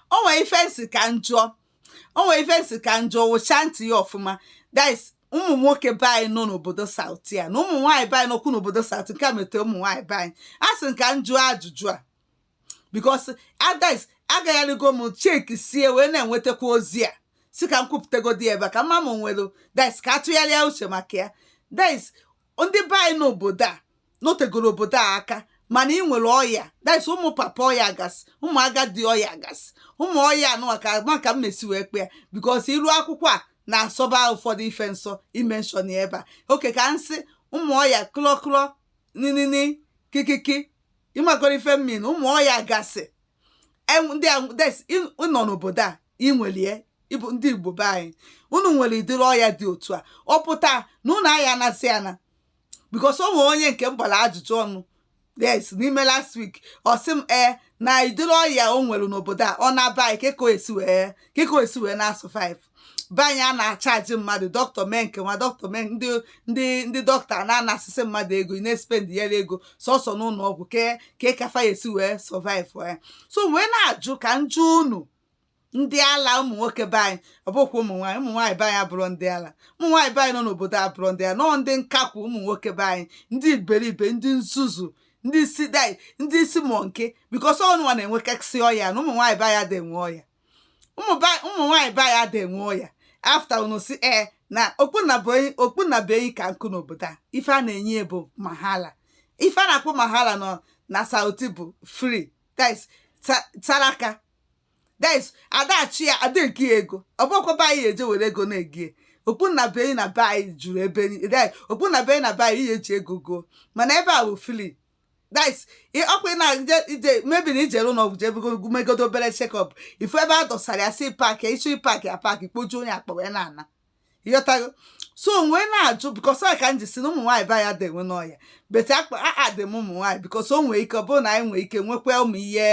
o nwere ife m sị ka m jụọ o nwere ife m sị ka m jụọ wụcha ntị ya ọfụma that is ụmụ nwoke be anyị nọ n'obodo Southy a na ụmụ nwaanyị be anyị nọkwu n'obodo South nke a metere ụmụ nwaanyị be anyị a sị ka m jụọ ajụjụ a because that is agagharịgo m check sie wee na-enwetakwa ozi a sị ka m kwupụtagodi ebe a ka mma m nwere that is ka atụgharịa uche maka ya that is ndị be anyị n'obodo a nọtegoro obodo a aka mana ị nwere ọya that's ụmụ papa ọya gasị ụmụ agadi ọya gasị ụmụ ọya anụwa ka maka m esi wee kpọ ya because iru akwụkwọ a na-asọba ụfọdụ ife nsọ ị mention ya ebe a okay ka m sị ụmụ ọya klọklọ ninini kikiki ị magoro ife m mean ụmụ ọya gasị ndị nọ n'obodo a i nwelie ị bụ ndị Igbo be anyị unu nwere ụdịrị ọya dị otu a ọ pụta na unu aya anasị ana because o nwere onye nke m gbara ajụjụ ọnụ yes n'ime last week ọ sị m ee na ụdịrị ọya o nwere n'obodo a ọ naa be anyị ke ka ọ ya-esi wee ke ka ọ ya-esi wee na-asurvive be anyị a na-acharge mmadụ dọkịta mee nke nwa dọkịta mee ndị ndị ndị dọkịta na-anasịsị mmadụ ego ị na-espend ya ego sọsọ n'ụlọ ọgwụ ke ka ị ka fa ya-esi wee survive ya so wee na-ajụ ka m jụọ unu ndị ala ụmụ nwoke be anyị ọ bụkwa ụmụ nwaanyị ụmụ nwaanyị be anyị abụrụ ndị ala ụmụ nwaanyị be anyị nọ n'obodo abụrụ ndị ala nọọ ndị nkakwu ụmụ nwoke be anyị ndị iberibe ndị nzuzu ndị isi dai ndị isi monkey because unu nwa na-enwekasị ọya na ụmụ nwaanyị be anyị ada enwe ọya ụmụ nwaanyị be anyị ada enwe ọya after unu sị ee na okpu nnabuenyi ka nkụ n'obodo a ife a na-enye ya bụ mahala ife a na-akpọ mahala nọ na Southy bụ free that is saraka that is ada acharge ya ada ego ya ego ọ bụkwa be anyị e je were ego na-ego ya okpu nnabuenyi na be anyị juru ebe okpu nnabuenyi na be anyị ihe e ji ego goo mana ebe a bụ free that is ọkwa ị na-eje ije maybe na i jere ụlọ ọgwụ jebugo megodo obere check-up ị fụ ebe a dọsara ya sị pack ị chọọ ị pack ya pack kpojuo onye akpa wee na-ana ị ghọtago so wee na-ajụ because ọ ka m ji sị na ụmụ nwaanyị be anyị ada enwe ọya but akpa a dị m ụmụ nwaanyị because o nwee ike ọ bụrụ na anyị nwee ike nwekwa ụmụ ihe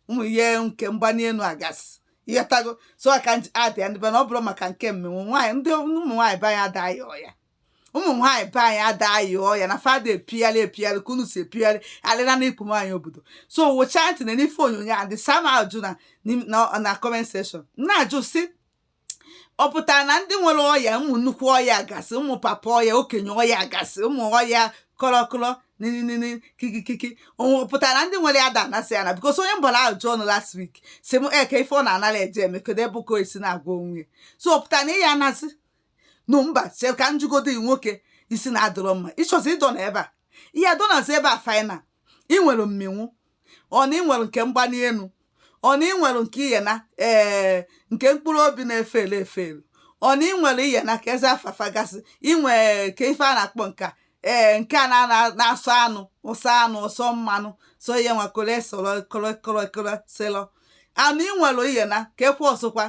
ụmụ ihe nke mgbani elu gasị ị ghọtago so a ka m ji adị ya ndị be na ọ bụrụ maka nke mmịnwụ nwaanyị ndị ụmụ nwaanyị be anyị ada aya ọya ụmụ nwaanyị be anyị ada aya ọya na fa ada epigharị epigharị ka unu si epigharị alịra na ikpu nwaanyị obodo so wụcha ntị na n'ife onyonyo a that is saa m ajụjụ na na comment section na-ajụ sị ọ pụtara na ndị nwere ọya ụmụ nnukwu ọya gasị ụmụ papa ọya okenye ọya gasị ụmụ ọya kọrọkọrọ ninini kikikiki ọ pụtara na ndị nwere ya ada anasị ana because onye m gbara ajụjụ ọnụ last week sị m kee ife ọ na-anara eje eme kedu ebe ọ ka esi na-agwọ onwe so ọ pụtara na ị ya anasị no mba chee ka m jụgodo gị nwoke isi na-adịrọ mma ịchọzi ịdọ na ebe a ihe adọnazi ebe a final ị nwere mminwụ ọ na ị nwere nke mgbali elu ọ na ị nwere nke ihe na ee nke mkpụrụ obi na-efe ele efe elu ọ na ị nwere ihe na kezi afa fa gasị ị nwe kee ife a na-akpọ nke a ee nke a na- na- na-asọ anụ asọ anụ asọ mmanụ so ihe nwa kole sọrọ kole kole kole selọ anụ ị nwere ihe na ka ekwe ọsọkwa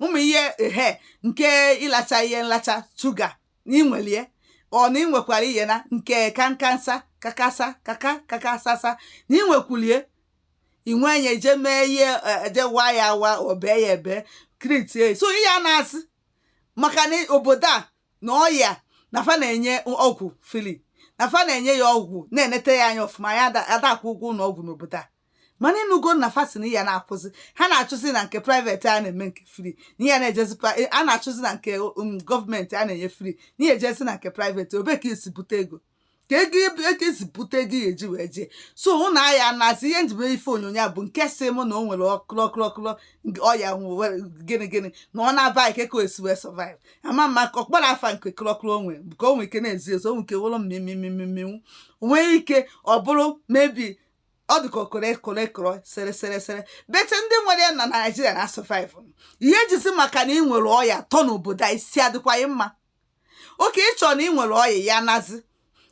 ụmụ ihe ehe nke ịlacha ihe nlacha shuga na ị nwelie ọ na ị nwekwara ihe na nke kankansa kakasa kaka kakasasa na ị nwekwulie ị nwee ya eje mee ihe eje wa ya awa obee ya ebe kritie so ị ya na-asị maka na obodo a na ọya na fa na-enye ọgwụ free na fa na-enye ya ọgwụ na-enete ya anya ọfụma ya ada akwụ ụgwọ ụlọ ọgwụ n'obodo a mana ị nụgo na fa sị na ị ya na-akwụzi ha na-achụzi na nke private a na-eme nke free na ị ya na-ejezi a na-achụzi na nke um, gọọmenti a na-enye free na ị ya ejezi na nke private ebee ka esi bute ego ka ego ego esi bute ego ya eji wee jee so unu aya na-asị ihe njibe ife onyonyo bụ nke sị mụ na o nwere ọkụlọkụlọkụlọ ọya gịnị gịnị na ọ naba kee ka o esi wee survive ama m ka ọ kpọrọ afa nke kụlọkụlọ onwe bụ ka o nwee ike na-ezi ezo o nwee ike wụrụ mmimimimimminwu nwee ike ọ bụrụ maybe ọ dị ka okoro ekoro ekoro sere sere sere but ndị nwere ya na naijiria na-survive ị ya-ejizi maka na ị nwere ọya tọ n'obodo a isi adịkwaghị mma okay ị chọrọ na ị nwere ọya ya nazi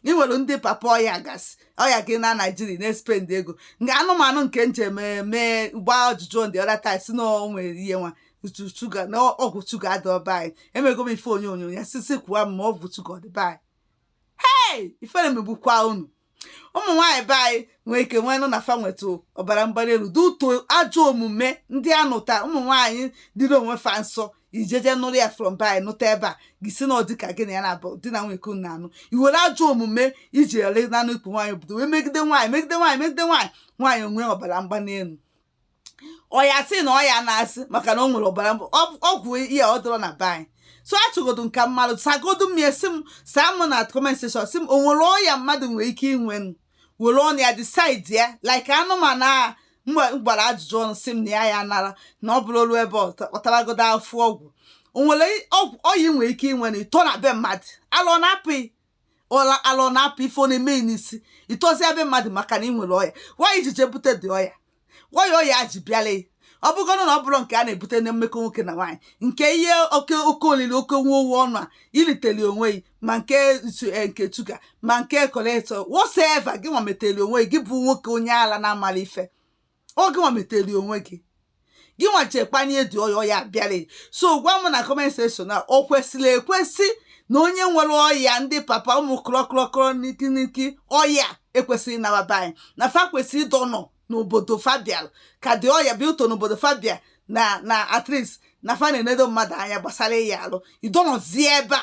ị nwere ndị papa ọya gasị ọya gị na naijiria na-espend ego nke anụmanụ nke m je eme gbaa ajụjụ the other time sị na o nwere ihe nwa utu shuga na ọgwụ shuga adịrọ be anyị emego m ife onyonyo ya sisi kwuwa m ma ọgwụ shuga ọ dị be anyị hei ifere megbukwa unu ụmụ nwaanyị be anyị nwee ike nwee nụ na fa nwetụ ọbara mgbali elu due to ajọ omume ndị a nụta ụmụ nwaanyị dịrị onwe fa nsọ ijeje nụrụ ya from be anyị nụta ebe a gị sị na ọ dịka gị na ya na-abụ di na nwunye ka unu na-anụ i were ajọ omume i ji ele nanụ ikpu nwaanyị obodo wee megide nwaanyị megide nwaanyị megide nwaanyị nwaanyị o nwee ọbara mgbali elu ọ ya-asị na ọ ya na-asị maka na o nwere ọbara mbụ ọgwụ ihe ọ dịrọ na be anyị so achọgodo m ka mmadụ sagodo m ya sị m saa m na comment section sị m o nwere ọya mmadụ nwere ike inwe were ọnụ ya decide ya like anụmanụ a m gbara ajụjụ ọnụ sị m na ya ya nara na ọ bụrụ olu ebe ọ taragodo afụ ọgwụ o nwere ọya ị nwere ike inwe na ịtọ na be mmadụ ala ọ na-apụ gị ọla ala ọ na-apụ ife ọ na-eme ị n'isi ị tọzie be mmadụ maka na ị nwere ọya nwaanyị ji jee bute dị ọya nwaanyị ọya ji bịala ya ọ bụgoro na ọ bụrụ nke a na-ebute na mmekọ nwoke na nwaanyị nke ihe oke oke olili oke nwa owu ọnụ a i liteli onwe gị ma nke ntu- eh, nke shuga ma nke koleto whatever gị nwa meteli onwe gị gị bụ nwoke onye ala na-amarọ ife ọ gị nwa metere onwe gị gị nwa je kpanye ụdị ọya bịara so gwa m na comment section na o kwesịrị ekwesị na onye nwere ọya ndị papa ụmụ kụrọkụrọkụrọ n'ikiniki ọya ekwesịghị ịna-aba be anyị na fa kwesịrị ịdọnọ n'obodo fa bịa ka ụdị ọya bịa ụtọ n'obodo fa bịa na na at least na fa na-enedo mmadụ anya gbasara ịya arụ ịdọnọzie ebe a